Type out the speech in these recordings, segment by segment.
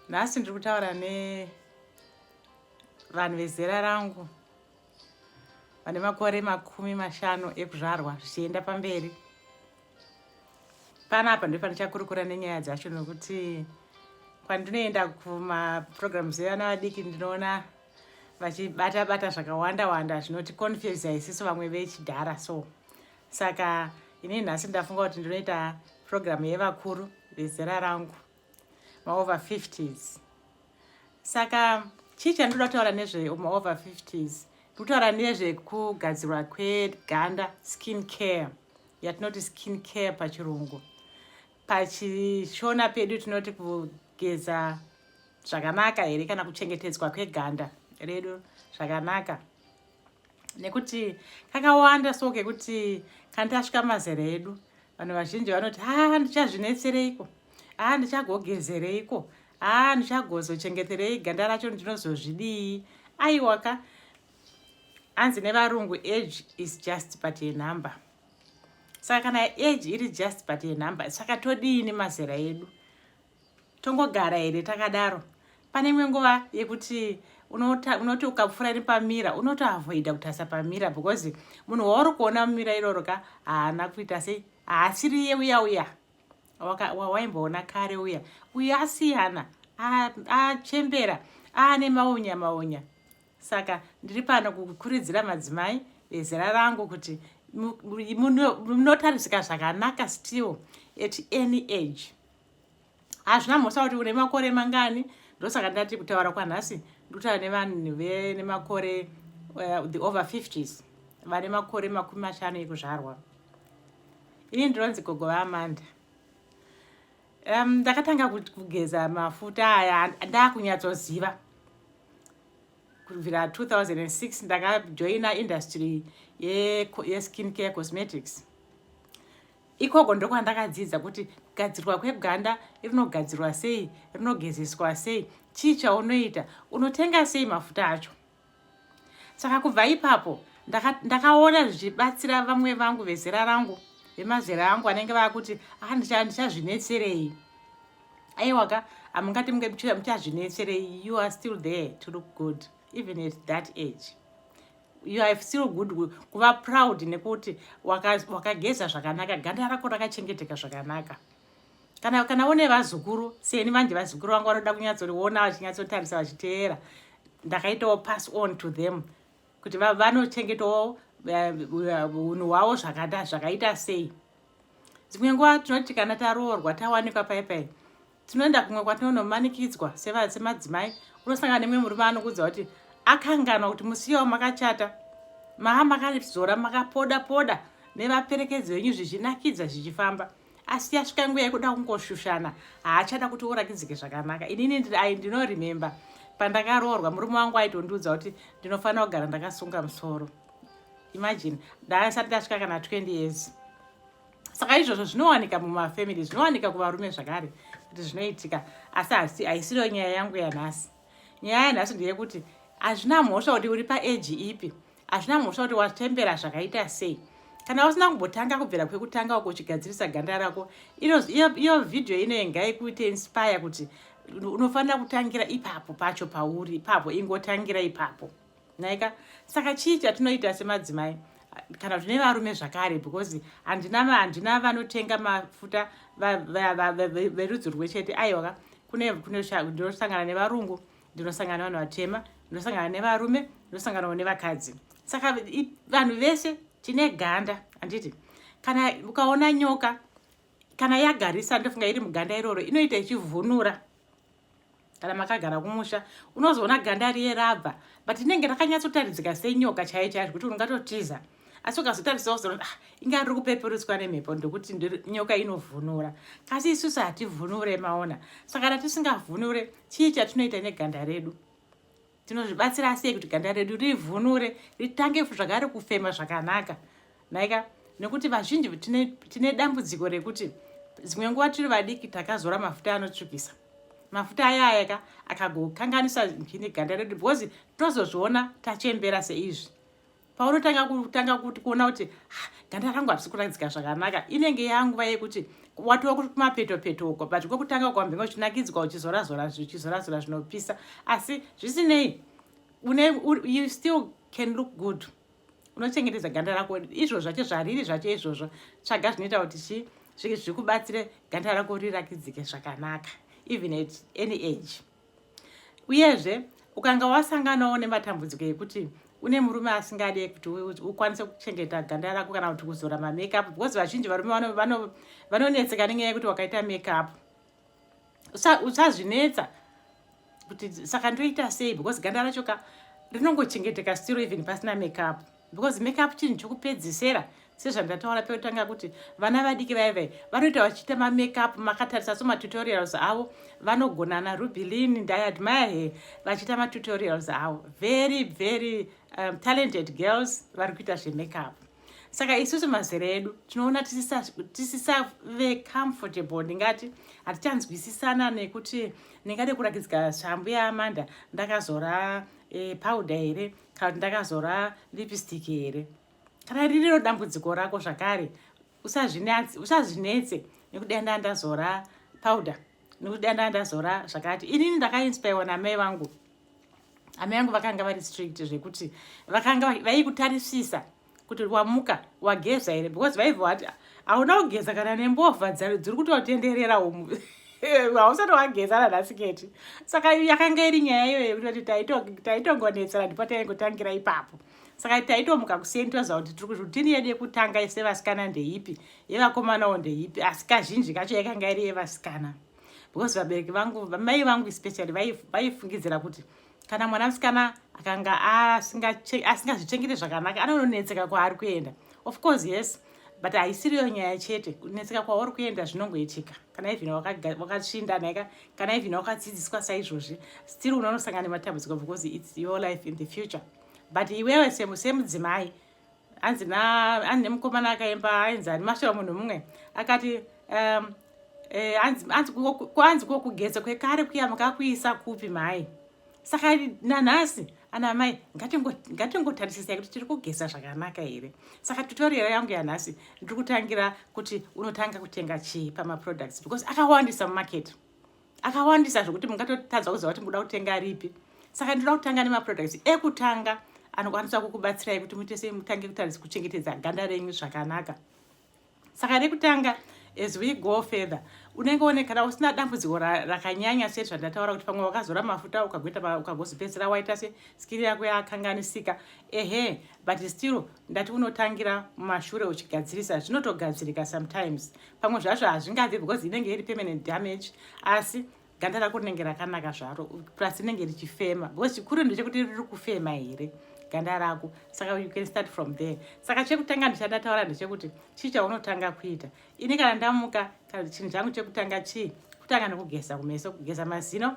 nhasi ndiri kutaura nevanhu vezera rangu vane makore makumi mashanu ekuzvarwa zvichienda pamberi panapa ndipo pandichakurukura nenyaya dzacho nokuti kwandinoenda kumaprograms evana vadiki ndinoona vachibata bata zvakawanda wanda zvinoti confuse isiso vamwe vechidhara so saka ini nhasi ndafunga kuti ndinoita program yevakuru vezera rangu maover 50s saka chii chandinoda kutaura nezve maover 50s ndikutaura nezvekugadzirwa kweganda skin care yatinoti skin care pachirungu pachishona pedu tinoti kugeza zvakanaka here kana kuchengetedzwa kweganda redu zvakanaka nekuti kakawanda so kekuti kana tasvika mazera edu vanhu vazhinji vanoti haa ndichazvinetsereiko haa ndichagogezereiko haa ndichagozochengeterei ganda racho ndinozozvidii aiwaka hanzi nevarungu age is just but a number saka kana age iri just but yenumber saka todii nemazera edu tongogara here takadaro pane imwe nguva yekuti unoti ukapfura nepamira unotoavoida kutasa pamira because munhu wauri kuona mumira iroro ka haana kuita sei haasiriye uya uya wawaimboona kare uya uya asiyana achembera aane maunya maunya saka ndiri pano kukuridzira madzimai ezera rangu kuti munotarisika zvakanaka still at any age hazvina mhosa kuti une makore mangani ndosaka ndati kutaura kwanhasi ndikutaura nevanhu vene makore uh, the over 50s vane makore makumi mashanu ekuzvarwa ini ndinonzi gogo vaamanda Um, ndakatanga kugeza mafuta aya ndakunyatsoziva kubvira 2006 ndakajoina industry yeskin ye care cosmetics ikoko ndokwandakadzidza kuti kugadzirwa kweganda rinogadzirwa sei rinogezeswa sei chii chaunoita unotenga sei mafuta acho saka kubva ipapo ndakaona zvichibatsira vamwe vangu vezera rangu vemazera angu vanenge vakuti ah, ndichazvinetserei aiwaka amungati munge muchazvinetserei you are still there to look good even at that age you are still good kuva proud nekuti wakageza zvakanaka ganda rako rakachengeteka zvakanaka kana kana une vazukuru seni manje vazukuru vangu vanoda kunyatsoriona vachinyatsotarisa vachiteera ndakaitawo pass on to them kuti vanochengetawo eh, unhu hwavo zvakata zvakaita sei dzimwe nguva tinoti kana taroorwa tawanikwa pai pai tinoenda kumwe kwatinonomanikidzwa semadzimai unosangana nemwe murume anokuudza kuti akanganwa kuti musiyawo makachata maa makazora makapoda poda nevaperekedzi venyu zvichinakidza zvichifamba asi yasvika nguva yekuda kungoshushana haachada kuti urakidzike zvakanaka inini ai ndinoremember pandakaroorwa murume wangu aitondiudza kuti ndinofanira kugara ndakasunga musoro imagine ndaasati ndasvika kana 20 years saka izvozvo zvinowanika mumafamily zvinowanika kuvarume zvakare kuti zvinoitika asi asi haisiriyo nyaya yangu yanhasi nyaya yanhasi ndeyekuti hazvina mhosva kuti uri paeji ipi hazvina mhosva kuti watembera zvakaita sei kana usina kumbotanga kubvira kwekutanga uko uchigadzirisa ganda rako iyo vhidhiyo inoye ngaikuite inspire kuti unofanira kutangira ipapo pacho pauri ipapo ingotangira ipapo nhaika saka chii chatinoita semadzimai kana kuti nevarume zvakare because handina handina vanotenga mafuta verudzi rwe chete aiwaka kune ndinosangana nevarungu ndinosangana nevanhu vatema ndinosangana nevarume ndinosanganawo nevakadzi saka vanhu vese tine ganda handiti kana ukaona nyoka kana yagarisa ndofunga iri muganda iroro inoita ichivhunura kana makagara kumusha unozoona ganda riye rabva but inenge rakanyatsotaridzika senyoka chaiyo chaiyo zvekuti ungatotiza asi ukazotarisa uzoona ah, inga riri kupeperutswa nemhepo ndokuti nyoka inovhunura kasi isusu hativhunure maona saka kana tisingavhunure chii chatinoita neganda redu tinozvibatsira sei kuti ganda redu rivhunure ritange zvakare kufema zvakanaka naika nekuti vazhinji tine, tine dambudziko rekuti dzimwe nguva tiri vadiki takazora mafuta anotsvukisa mafuta ayaya ka akagokanganisa ganda redu because tozozviona tachembera seizvi paunotanga kutanga kuti kuona kuti ah, ganda rangu harisi kuratidzika zvakanaka inenge yanguva yekuti watova kuti kumapeto peto uko but kwekutanga ukambenge uchinakidzwa uchizorazora uchizorazora zvinopisa asi zvisinei you still can look good unochengetedza ganda rako izvo zvacho zvariri zvacho izvozvo tsvaga zvinoita kuti chii zvikubatsire ganda rako rirakidzike zvakanaka even at any age Uyezve, ukanga wasanganawo nematambudziko ekuti une murume asingade kuti ukwanise kuchengeta ganda rako kana kuti kuzora mamakeup because vazhinji varume vanonetseka nenyaya yekuti wakaita makeup usazvinetsa kuti saka ndoita sei because ganda racho ka rinongochengeteka stiro even pasina makeup because makeup chinhu chokupedzisera sezvandataura pekutanga kuti vana vadiki vaye vaye vanoita vachiita mamakeup makatarisa so matutorials avo vanogonana rubilin ndiadmire he vachiita matutorials avo very very um, talented girls vari kuita zvemakeup saka isusu mazera edu tinoona tisisave comfortable ndingati hatichanzwisisana nekuti ndingade kurakidzika shambu yaamanda ndakazora e, powder here kana kuti ndakazora lipstick here kana ririro dambudziko rako zvakare usazvinetse nekuti dai ndaa ndazora powder nekuti dai ndaa ndazora zvakati inini ndakainspirwa namai vangu amai vangu vakanga vari strict zvekuti vakanga vaikutarisisa kuti wamuka wageza here because vaive vati hauna kugeza kana nembovha dziri kutotenderera umu hausati wageza nanhasi keti saka yakanga iri nyaya iyoyo yekuti kuti taitongonetsera ndipo taive kutangira ipapo saka taitomuka kuseni toziva kuti tiri kuzvutini yedu yekutanga ise vasikana ndeipi yevakomanawo ndeipi asi kazhinji kacho yakanga iri yevasikana because vabereki vangu mai vangu especially vaifungidzira kuti kana mwana musikana akanga asingazvichengete zvakanaka anononetseka kwaari kuenda of course yes but haisiriyo nyaya chete kunetseka kwauri kuenda zvinongoitika kana ivhina wakatsvinda naika kana ivhina wakadzidziswa saizvozvi still unonosangana nematambudziko because its your life in the future but iwewe semudzimai hanzi hanzi nemukomana akaimba ainzi ani mashewa munhu mumwe akati um, eh, hanzi kokugeza kwekare kuya makakuisa kupi mhai saka nanhasi ana mai ngatingotarisisai kuti tiri kugeza zvakanaka here saka tutorial yangu yanhasi ndiri kutangira kuti unotanga kutenga chii pamaproducts because akawandisa mumarket akawandisa zvekuti mungatotadza kuziva kuti muda kutenga ripi saka ndinoda kutanga nemaproducts ekutanga anokwanisa kukubatsirai kuti muite sei mutange kutaridza kuchengetedza ganda renyu zvakanaka saka rekutanga as we go further unenge one kana usina dambudziko rakanyanya se zvandataura kuti pamwe wakazora mafuta ukagoita ukagozopedzisira waita se skiri yako yakanganisika ehe but still ndati unotangira mumashure uchigadzirisa zvinotogadzirika sometimes pamwe zvacho hazvingabvi because inenge iri permanent damage asi ganda rako rinenge rakanaka zvaro plus rinenge richifema because chikuru ndechekuti riri kufema here ganda rako saka you can start from there saka chekutanga ndichada taura ndechekuti chii chaunotanga kuita ini kana ndamuka kana chinhu changu chekutanga chii kutanga nekugeza kumeso kugeza mazino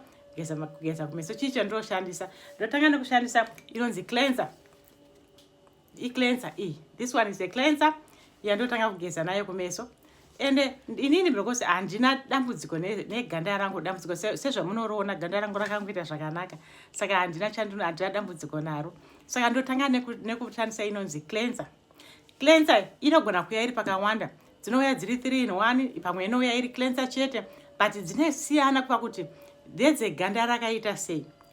kugeza kumeso chii chandoshandisa ndotanga nekushandisa inonzi cleanser icleanser iyi this one is a cleanser yandotanga kugeza nayo kumeso ende eh, inini because handina dambudziko neganda rangu dambudziko sezvamunoriona ganda rangu rakangoita zvakanaka saka handina chandino handina dambudziko naro saka ndotanga nekushandisa inonzi cleanser cleanser inogona kuya iri pakawanda dzinouya dziri three in one pamwe inouya iri cleanser chete but dzinesiyana kuva kuti ndedzeganda rakaita sei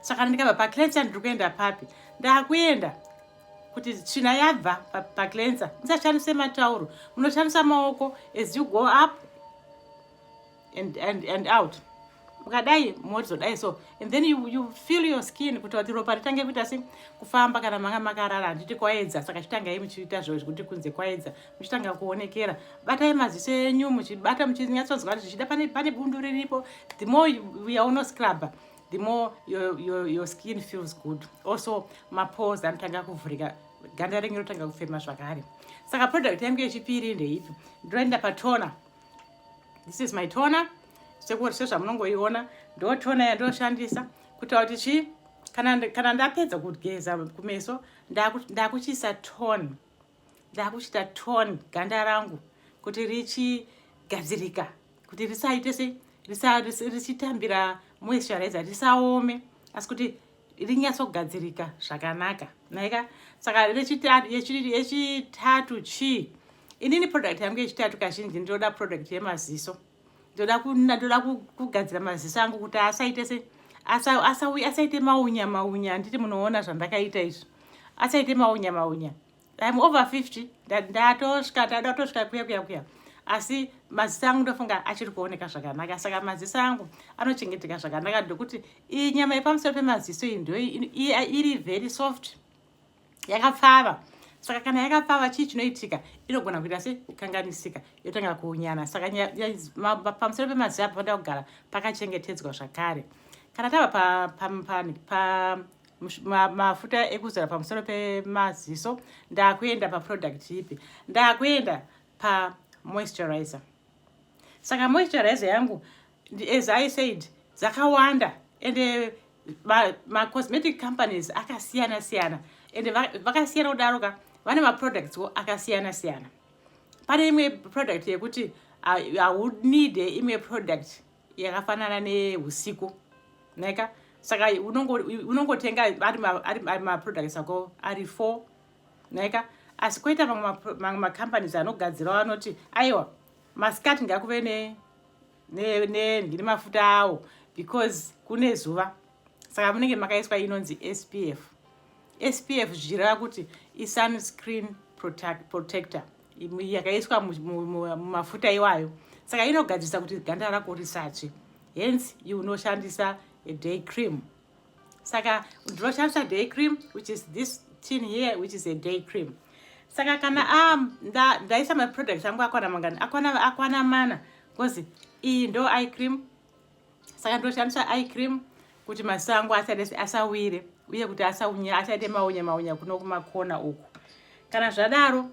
saka ndikabva paclensa ndiri kuenda papi ndakuenda kuti tsvina yabva paclensa ndisashandise matauro munoshandisa maoko as you go up and, and, and out mukadai mozodai so and then you, you feel your skin kuti kuti ropa ritange kuita se kufamba kana manga makarara handiti kwaedza saka chitangei muchiita zvekuti kunze kwaedza muchitanga kuonekera batai maziso enyu muchibata muchinyatsonzwa kuti zvichida pane, pane bundu riripo the more yauno scrubber the more your, your, your skin feels good also mapose anotanga kuvhurika ganda renyu rotanga kufema zvakare saka product yangu yechipiri ndeipi ndoenda patona this is my tona sekuti sezvamunongoiona ndo tona yandoshandisa kutaura kuti chii kana, kana ndapedza kugeza kumeso ndakuchiisa tone ndakuchita tone ganda rangu kuti richigadzirika kuti risaite se richitambira moisturizer risaome asi kuti rinyatsogadzirika zvakanaka naika saka yechitatu chii inini product yangu yechitatu kazhinji ndinoda product yemaziso ndoda ndoda kugadzira maziso angu kuti asaite se asauya asaite maunya maunya handiti munoona zvandakaita izvi asaite maunya maunya im over 50 ndatosvika ndada kutosvika kuya kuya kuya asi maziso angu ndofunga achiri kuoneka zvakanaka saka maziso angu anochengeteka zvakanaka ndokuti iyi nyama yepamusoro pemaziso iyi ndo iri very soft yakapfava saka kana yakapfava chii chinoitika inogona kuita se kanganisika yotanga kuunyana saka pamusoro pemaziva panoda kugara pakachengetedzwa zvakare kana tava pamafuta pa, pa, pa, ekuzora pamusoro pemaziso ndakuenda paproduct ipi ndakuenda pamoisturizer saka moisturizer yangu as i said dzakawanda ende eh, macosmetic companies akasiyana siyana ende vakasiyana kudaro ka vane maproducts wo akasiyana siyana pane imwe product yekuti haunide ah, imwe product yakafanana neusiku naika saka unongotenga ari maproducts ako ari four naika asi koita mamwe macompanies anogadzirawo anoti aiwa masikati ngakuve ne nemafuta ne, ne, awo because kune zuva saka munenge makaiswa inonzi spf spf zvichireva kuti isunscreen protect, protector yakaiswa mumafuta iwayo saka inogadzirisa kuti ganda rako risatsve hence you unoshandisa a day cream saka ndinoshandisa day cream which is this tin here which is a day cream saka kana um, ndaisa nda maproduct angu akwana mangani akwana, akwana mana bcause iyi ndo i cream saka ndoshandisa i cream kuti maziso angu asawire uye kuti asaunya asaite maunya maunya kuno kumakona uku kana zvadaro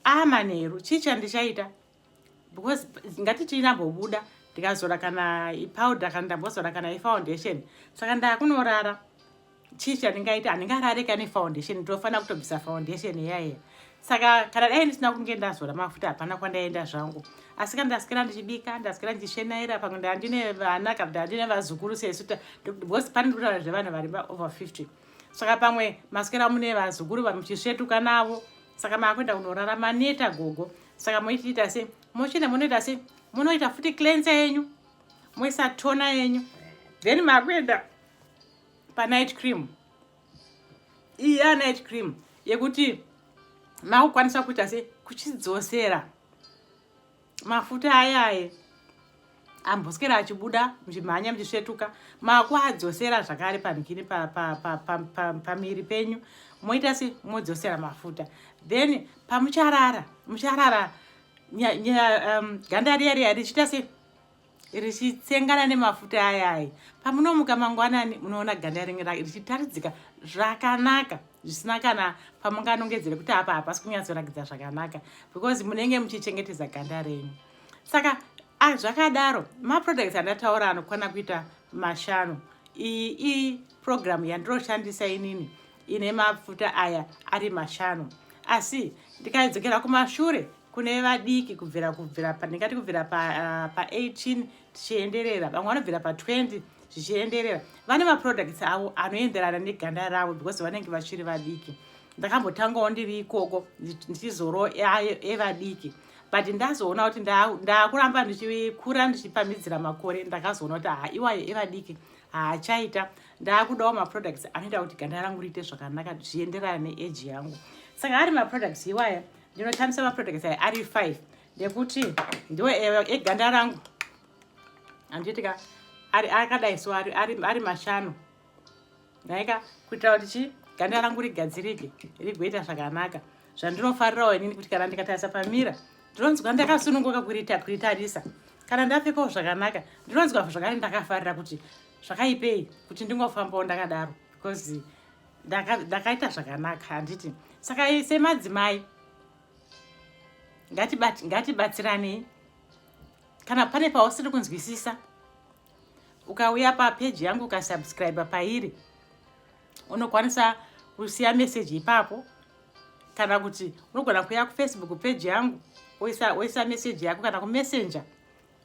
amanheru chii chandichaita because ngatiti inambobuda ndikazora kana ipowder kana ndambozora kana ifoundation saka ndakunorara chii chandingaita handingarare ka nefoundation ndofanira kutobvisa foundation iyayeya saka kana dai ndisina kunge ndazora mafuta hapana kwandaenda zvangu asi kana ndasikira ndichibika ndasikira ndichishenaira pamwe ndandine vana kana ndandine vazukuru sesu because pane ndikutaura zvevanhu vari over 50 saka pamwe masikira mune vazukuru vamuchisvetuka navo saka maakuenda kunorara maneta gogo saka moitiita se mochena monoita se monoita futi clense yenyu moisa tona yenyu then makuenda panight cream iya night cream yekuti makukwanisa kuita se kuchidzosera mafuta ayaye amboswera achibuda muchimhanya muchisvetuka makuadzosera zvakare pamhikini pamiri penyu moita se modzosera mafuta then pamucharara mucharara um, ganda riya riya richiita se richitsengana nemafuta ayai pamunomuka mangwanani munoona ganda ringe richitaridzika zvakanaka zvisina kana pamunganongedzere kuti apa hapasi kunyatsorakidza zvakanaka because munenge muchichengetedza ganda renyu saka ah, zvakadaro maproducts andataura anokwana kuita mashanu iyi iyi program yandinoshandisa inini ine mafuta aya ari mashanu asi ndikaidzokera kumashure kune vadiki kubvira kubvira ndingati kubvira pa18 ah, tichienderera vamwe vanobvira pa20 zvichienderera vane maproducts avo anoenderana neganda ravo because vanenge vachiri vadiki ndakambotangawo ndiri ikoko ndichizoro evadiki e but ndazoona kuti ndakuramba ndichikura ndichipamidzira makore ndakazoona kuti haa iwayo evadiki haachaita ndaakudawo maproducts anoita kuti ganda rangu riite zvakanaka zvienderana neage yangu saka ari maproducts iwaya ndinoshandisa maproducts aya ari five nekuti ndiwo eganda rangu andiitika ari akadai so ari mashanu nhaika kuitira kuti chi ganda rangu rigadzirike rigoita zvakanaka zvandinofarirawo inini kuti kana ndikatarisa pamira ndinonzwa ndakasununguka kuriita kuritarisa kana ndapfekawo zvakanaka ndinonzwa zvakare ndakafarira kuti zvakaipei kuti ndingofambawo ndakadaro because ndakaita zvakanaka handiti saka semadzimai ngatibatsiranei kana pane pausiri kunzwisisa ukauya papeji yangu ukasubscribe pairi unokwanisa kusiya meseji ipapo kana kuti unogona kuya kufacebook peji yangu oisa, oisa meseji yako kana kumessenger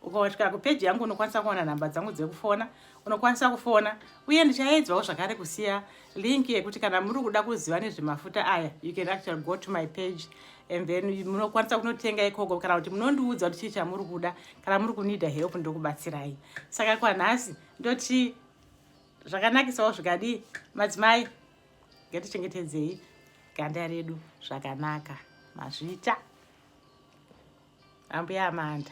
ukasvika kupeji yangu unokwanisa kuona nhamba dzangu dzekufona unokwanisa kufona uye ndichaedzwawo zvakare kusiya link yekuti kana muri kuda kuziva nezvemafuta aya you can actually go to my page and then munokwanisa kunotenga ikoko kana kuti munondiudza kuti chii chamuri kuda kana muri kunida help ndokubatsirai saka kwanhasi ndoti zvakanakisawo zvikadii madzimai ngatichengetedzei ganda redu zvakanaka mazvita ambuya amanda